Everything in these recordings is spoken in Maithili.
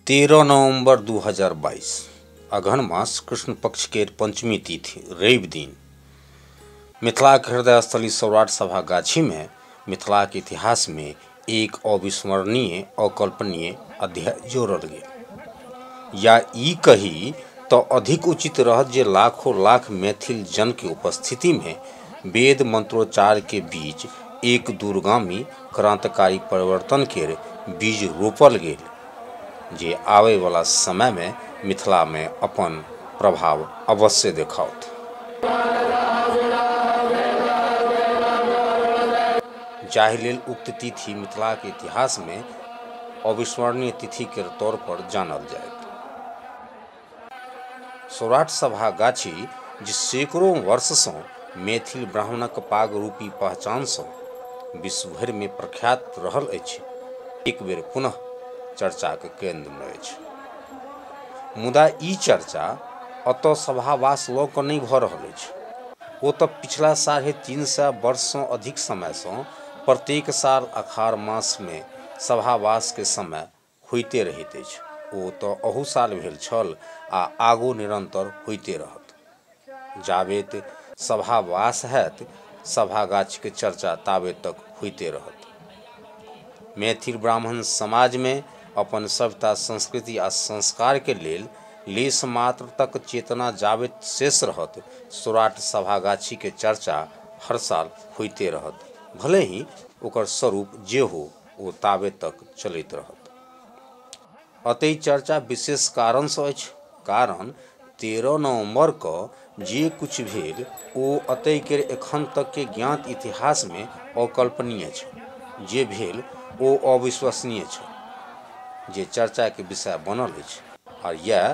तेरह नवंबर 2022 अगहन मास कृष्ण पक्ष के पंचमी तिथि रवि दिन मिथिला के हृदय स्थली सौराठ सभा गाछी में मिथिला के इतिहास में एक अविस्मरणीय अकल्पनीय अध्याय जोड़ल गेल या ई कही तो अधिक उचित रहत जे लाखों लाख मैथिल जन के उपस्थिति में वेद मंत्रोच्चार के बीच एक दूरगामी क्रांतिकारी परिवर्तन केर बीज रोपल गेल जे आबय वला समय मे मिथिला मे अपन प्रभाव अवश्य देखाओत। जाहि लेल उक्त तिथि मिथिला क इतिहास मे अविस्मरणीय तिथि केर तौर पर जानल जायत। सौराठ सभागाछी जे सैकड़ो वर्षसँ मैथिल ब्राह्मणक पागरूपी पहचानसँ विश्व भरिमे प्रख्यात रहल अछि एक बेर पुनः चर्चाक केन्द्रमे अछि मुदा ई चर्चा एतय सभावास लऽ कऽ नहि भऽ रहल अछि ओ तऽ पिछला साढ़े तीन सए वर्षसँ अधिक समयसँ प्रत्येक साल अखार मासमे सभावासके समय होइते रहैत अछि। ओ तँ अहू साल भेल छल आ आगू निरन्तर होइते रहत। जाबेत सभा वास हएत, सभा गाछीक चर्चा ताबे तक होइते रहत। मैथिल ब्राह्मण समाजमे अपन सभ्यता, संस्कृति आ संस्कारकेँ लेल लेशमात्र तक चेतना जाबेत शेष रहत, सौराठ सभागाछीक चर्चा हर साल होइते रहत, भलेहिँ ओकर स्वरूप जे हो। ओ ताबे तक चलैत रहत अतः चर्चा विशेष कारणसँ अछि कारण तेरह नवम्बरके जे किछु भेल ओ अतैके एखन तकके ज्ञात इतिहासमे अकल्पनीय छल जे भेल ओ अविश्वसनीय छल जे चर्चाके विषय बनल अछि आ इएह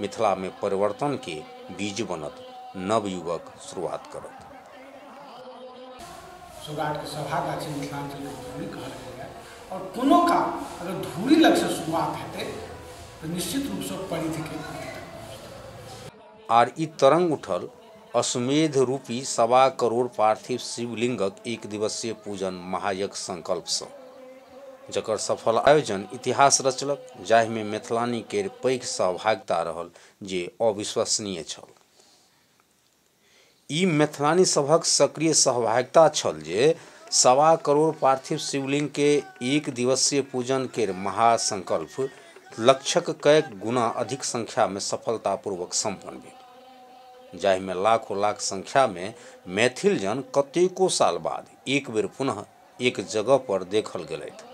मिथिलामे परिवर्तनके बीज बनत नवयुगक शुरुआत करत सुगाटके सभागाछी मिथिलाञ्चलके धूरी कहल गेलैए आओर कोनो काम अगर धूरी लगसँ शुरुआत हेतै तऽ निश्चित रूपसँ परिधिके आर ई तरंग उठल अश्वमेध रूपी सवा करोड़ पार्थिव शिवलिंगक एक दिवसीय पूजन महायज्ञ संकल्पसँ जकर सफल आयोजन इतिहास रचलक जाहिमे मैथिलानी केर पैघ सहभागिता रहल जे अविश्वसनीय छल ई मैथिलानी सभक सक्रिय सहभागिता छल जे सवा करोड़ पार्थिव शिवलिंग के एक दिवसीय पूजन केर महासंकल्प लक्ष्यक कएक गुना अधिक संख्या मे सफलतापूर्वक संपन्न भेल। जाहि मे लाखो-लाख संख्या मे मैथिल जन कतेको साल बाद एक बेर पुनः एक जगह पर देखल गेलैथ।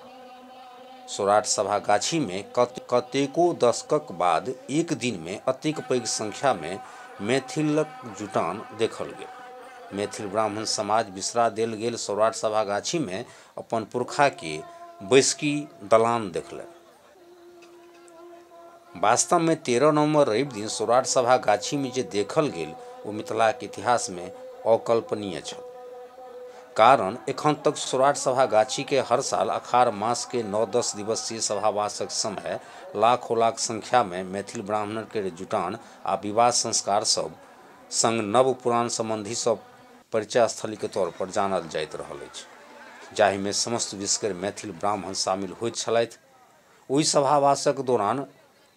सौराठ सभा गाछी मे कतेको दशकक बाद एक दिन मे अतेक पैघ संख्या मे मैथिलक जुटान देखल गेल। मैथिल ब्राह्मण समाज बिसरा देल गेल सौराठ सभा गाछी मे अपन पुरखा के बैसकी दलान देखलैन। वास्तवमे तेरह नवम्बर रवि दिन सौराठ सभा गाछीमे जे देखल गेल ओ मिथिलाक इतिहासमे अकल्पनीय छल कारण एखन तक सौराठ सभा गाछीके हर साल अखार मासके नओ दस दिवसीय सभावासक समय लाखो लाख संख्यामे मैथिल ब्राह्मणके जुटान आ विवाह संस्कार सब संग नव पुरान सम्बन्धी सब परिचय स्थली के तौर पर जानल जाइत रहल अछि जाहि मे समस्त विषकर मैथिल ब्राह्मण शामिल होइत छलथि। ओहि सभावासक दौरान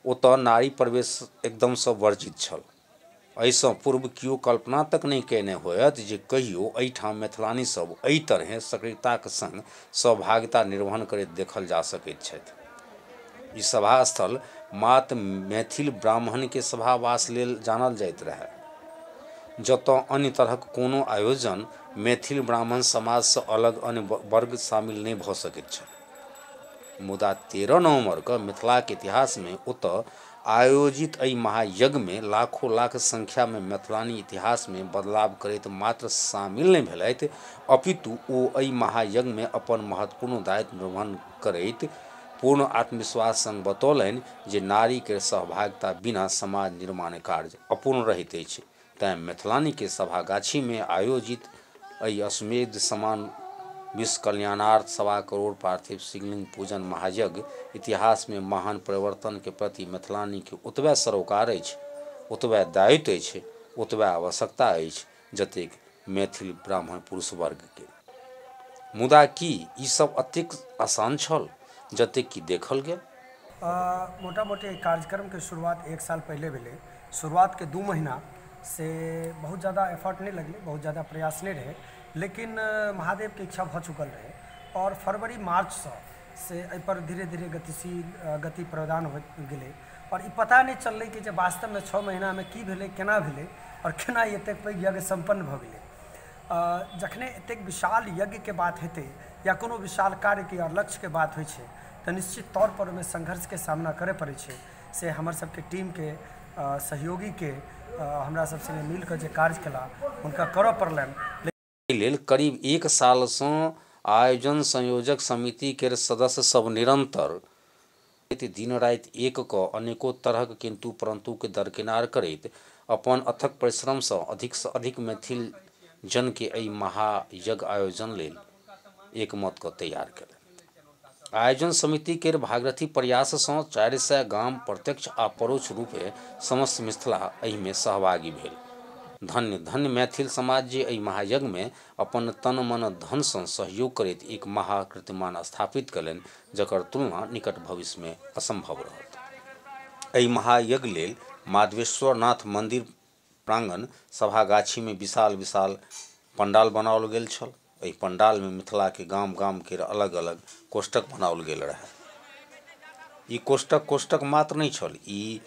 ओतय नारी प्रवेश एकदम सँ वर्जित छल। एहि सँ पूर्व कियो कल्पना तक नहि कयने होयत जे कहियो एहि ठाम मैथिलानी सभ एहि तरहें सक्रियताक संग सहभागिता निर्वहन करैत देखल जा सकैत छथि। ई सभास्थल मात्र मैथिल ब्राह्मणके सभावास लेल जानल जाइत रहए। जतऽ अन्य तरहक कोनो आयोजन मैथिल ब्राह्मण समाजसँ अलग अन्य वर्ग शामिल नहि भऽ सकैत छल। मुदा तेरह नवम्बरकऽ मिथिलाक इतिहासमे ओतऽ आयोजित एहि महायज्ञमे लाखो लाख संख्यामे मैथिलानी इतिहासमे बदलाव करैत मात्र शामिल नहि भेलथि अपितु ओ एहि महायज्ञमे अपन महत्वपूर्ण दायित्व निर्वहन करैत पूर्ण आत्मविश्वास संग बतौलनि जे नारी केर सहभागिता बिना समाज निर्माण कार्य अपूर्ण रहैत अछि। तैं मैथिलानी के सभागाछी मे आयोजित एहि अश्वमेध समान विश्व कल्याणार्थ सवा करोड़ पार्थिव शिवलिंग पूजन महायज्ञ इतिहास मे महान परिवर्तन के प्रति मैथिलानी के ओतबे सरोकार अछि, ओतबे दायित्व अछि, ओतबे आवश्यकता अछि जतेक मैथिल ब्राह्मण पुरुष वर्गके। मुदा की ई सभ अतेक आसान छल जतेक कि देखल गेल? मोटा-मोटी एहि कार्यक्रमके शुरुआत एक साल पहिले भेलै। शुरुआतके दू महिना से बहुत जादा एफर्ट नहि लगलै, बहुत जादा प्रयास नहि रहै। लेकिन महादेवके इच्छा भऽ चुकल रहै आओर फरवरी-मार्चसँ से एहिपर धीरे-धीरे गतिशील गति प्रदान होइत गेलै। आओर ई पता नहि चललै कि जे वास्तवमे छओ महिनामे की भेलै केना भेलै आओर केना ई एतेक पैघ यज्ञ सम्पन्न भऽ गेलै आओर जखने एतेक विशाल यज्ञके बात हेतै या कोनो विशाल कार्यके या लक्ष्यके बात होइ छै तऽ निश्चित तौर पर ओहिमे संघर्षके सामना करऽ पड़ै छै से हमर सबके टीमके सहयोगीके हमरा सब सङ्गे मिलकऽ जे काज केला हुनका करऽ पड़लनि एहि लेल करीब एक साल सँ आयोजन संयोजक समिति केर सदस्य सभ निरंतर प्रति दिन राति एक कऽ अनेको तरहक किन्तु-परन्तु केँ दरकिनार करैत अपन अथक परिश्रम सँ अधिक सँ अधिक मैथिल जन केँ एहि महायज्ञ आयोजन लेल एकमत कऽ तैयार केलनि। आयोजन समिति केर भागरथी प्रयास सँ चारि सय गाम प्रत्यक्ष आ परोक्ष रूपे समस्त मिथिला एहि मे सहभागी भेल। धन्य, धन्य मैथिल समाज जे एहि महायज्ञ मे अपन तन, मन, धन सँ सहयोग करैत एक महा कीर्तिमान स्थापित केलनि जकर तुलना निकट भविष्य मे असंभव रहत। एहि महायज्ञ लेल माधवेश्वरनाथ मंदिर प्रांगण सभागाछी मे विशाल विशाल पंडाल बनाओल गेल छल। एहि पंडाल मे मिथिला के गाम गाम केर अलग अलग कोष्ठक बनाओल गेल रहय। ई कोष्ठक कोष्ठक मात्र नहि छल। ई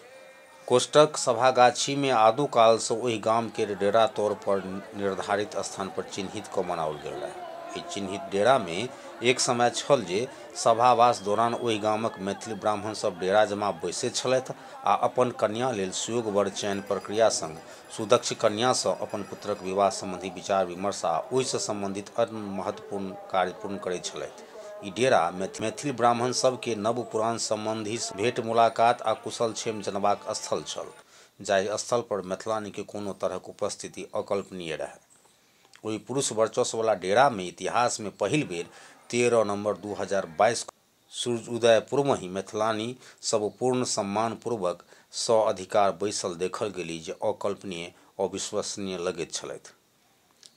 कोष्ठक सभागाछी मे आदो काल सँ ओहि गाम केर डेरा तौर पर निर्धारित स्थान पर चिन्हित कऽ बनाओल गेल रहय। एहि चिन्हित डेरा मे एक समय छल जे सभावास दौरान ओहि गामक मैथिल ब्राह्मण सभ डेरा जमा बैसैत छलथि आ अपन कन्या लेल सुयोगवर चयन प्रक्रिया संग सुदक्ष कन्या सँ अपन पुत्रक विवाह संबंधी विचार विमर्श आ ओहि सँ संबंधित अन्य महत्वपूर्ण कार्य पूर्ण करैत छलथि। ई डेरा मैथिल ब्राह्मण सभ केँ नव पुरान संबंधी सँ भेंट मुलाकात आ कुशल क्षेम जनबाक स्थल छल जाहि स्थल पर मैथिलानी केँ कोनो तरहक उपस्थिति अकल्पनीय रहय। ओहि पुरुष वर्चस्व वला डेरा मे इतिहास मे पहिल बेर तेरह नवम्बर दू हजार बाइस क। सूर्य उदय पूर्वहि मैथिलानी सभ पूर्ण सम्मानपूर्वक स-अधिकार बैसल देखल गेली जे अकल्पनीय, अविश्वसनीय लगैत छलथि।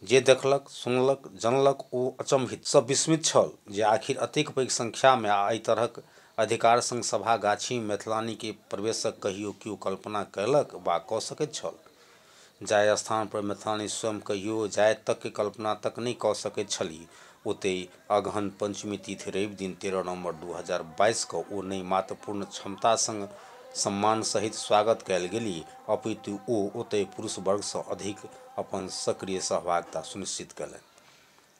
जे देखलक, सुनलक, जनलक ओ अचम्भित, सभ विस्मित छल जे आखिर अतेक पैघ संख्यामे आ एहि तरहक अधिकार संग सभा-गाछीमे मैथिलानीक प्रवेशक कहियो कियो कल्पना कयलक वा कऽ सकैत छल? जाहि स्थान पर मैथिलानी स्वयं कहियो जाएत तक के कल्पना तक नहि कऽ सकैत छलीह, ओतहि अगहन पंचमी तिथि रवि दिन तेरह नवम्बर दू हजार बाइस कऽ ओ नहि मात्र पूर्ण क्षमता संग सम्मान सहित स्वागत कएल गेलीह, अपितु ओ ओतहि पुरुष वर्ग सं अधिक अपन सक्रिय सहभागिता सुनिश्चित कएलनि।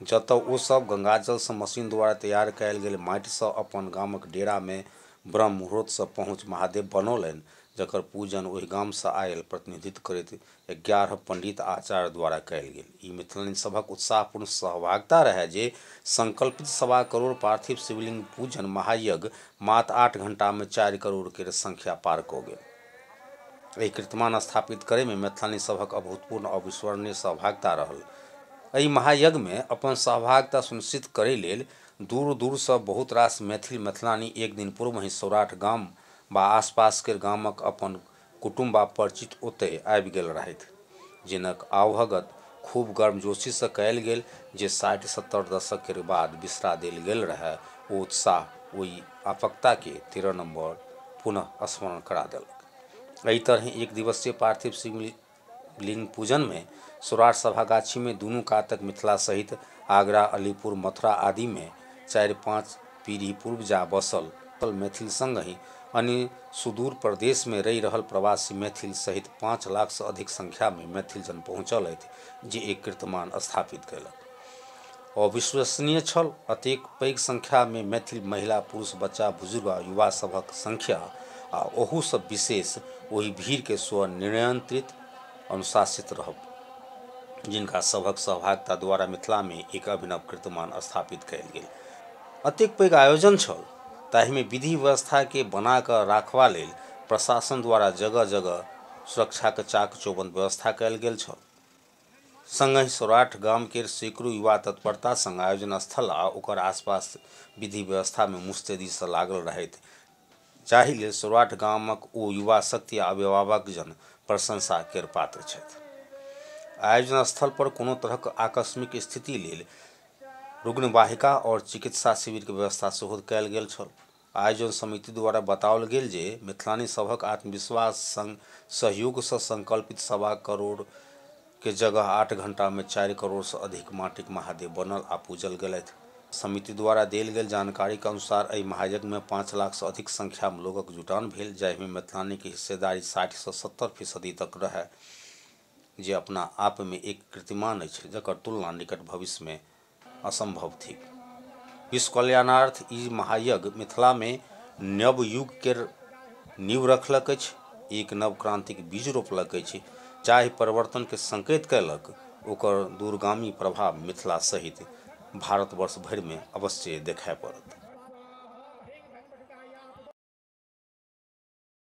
जतऽ ओ सभ गंगाजलसँ मशीन द्वारा तैयार कएल गेल माटिसँ अपन गामक डेरामे ब्रह्म मुहूर्तसँ पहुँच महादेव बनौलनि जकर पूजन ओहि गामसँ आएल प्रतिनिधित्व करैत एगारह पण्डित आ आचार्य द्वारा कएल गेल। ई मिथिलानि सभक उत्साहपूर्ण सहभागिता रहए जे संकल्पित सवा करोड़ पार्थिव शिवलिंग पूजन महायज्ञ मात्र आठ घंटामे चारि करोड़ केर संख्या पार कऽ गेल। एहि कीर्तिमान स्थापित करैमे मैथिलानी सभक अभूतपूर्ण अविस्मरणीय सहभागिता रहल एहि महायज्ञमे अपन सहभागिता सुनिश्चित करै लेल दूर दूरसँ बहुत रास मैथिल मैथिलानी एक दिन पूर्वहि सौराठ गाम वा आसपास केर गामक अपन कुटुम्ब आ परिचित ओतय आबि गेल रहथि जिनक आवभगत खूब गर्मजोशी सँ कयल गेल जे साठि सत्तर दशक केर बाद बिसरा देल गेल रहय ओ उत्साह ओइ आपकता केँ तिरनम्बर पुनः स्मरण करा देलक। एहि तरहें एक दिवसीय पार्थिव शिवलिंग पूजन मे सौराठ सभागाछी मे दुनू कातक मिथिला सहित आगरा, अलीपुर, मथुरा आदि मे चारि पाँच पीढ़ी पूर्व जा बसल मैथिल संगहि अन्य सुदूर प्रदेश मे रहि रहल प्रवासी मैथिल सहित पाँच लाख सँ अधिक संख्या मे मैथिल जन पहुँचल अछि जे एक कीर्तमान स्थापित कयलक। अविश्वसनीय छल अतेक पैघ संख्या मे मैथिल महिला, पुरुष, बच्चा, बुजुर्ग आ युवा सभक संख्या आ ओहू सँ विशेष ओहि भीड़ केँ स्व नियंत्रित, अनुशासित रहब जिनका सभक सहभागिता द्वारा मिथिलामे एक अभिनव कीर्तिमान स्थापित कयल गेल। अतेक पैघ आयोजन छल ताहिमे विधि व्यवस्थाकेँ बना कऽ राखबा लेल प्रशासन द्वारा जगह-जगह सुरक्षाक चाक-चौबंद व्यवस्था कयल गेल छल। संगहि सौराठ गाम केर सैकड़ो युवा तत्परता संग आयोजन स्थल आ ओकर आसपास विधि व्यवस्थामे मुस्तैदीसँ लागल रहथि। जाहि लेल सौराठ गामक ओ युवा शक्ति आ अभिभावक जन प्रशंसा केर पात्र छथि। आयोजन स्थल पर कोनो तरहक आकस्मिक स्थिति लेल रुग्णवाहिका आओर चिकित्सा शिविर के व्यवस्था सेहो कयल गेल छल। आयोजन समिति द्वारा बताओल गेल जे मिथिलानी सभक आत्मविश्वास संग सहयोग सँ संकल्पित सवा करोड़ के जगह आठ घंटा मे चारि करोड़ सं अधिक माटिक महादेव बनल आ पूजल गेलथि। समिति द्वारा देल गेल जानकारीक अनुसार एहि महायज्ञ मे पांच लाख सं अधिक संख्या मे लोकक जुटान भेल जाहि मे मैथिलानीक हिस्सेदारी साठि सं सत्तर फीसदी तक रहय जे अपना आप मे एक कीर्तिमान अछि जकर तुलना निकट भविष्य मे असंभव थिक। विश्व कल्याणार्थ ई महायज्ञ मिथिला मे न्यव युग केर नीव रखलक अछि, एक नव क्रांतिक बीज रोपलक अछि, जाहि परिवर्तन केँ संकेत कयलक, ओकर दूरगामी प्रभाव मिथिला सहित भारतवर्ष भरि मे अवश्ये देखय पड़त।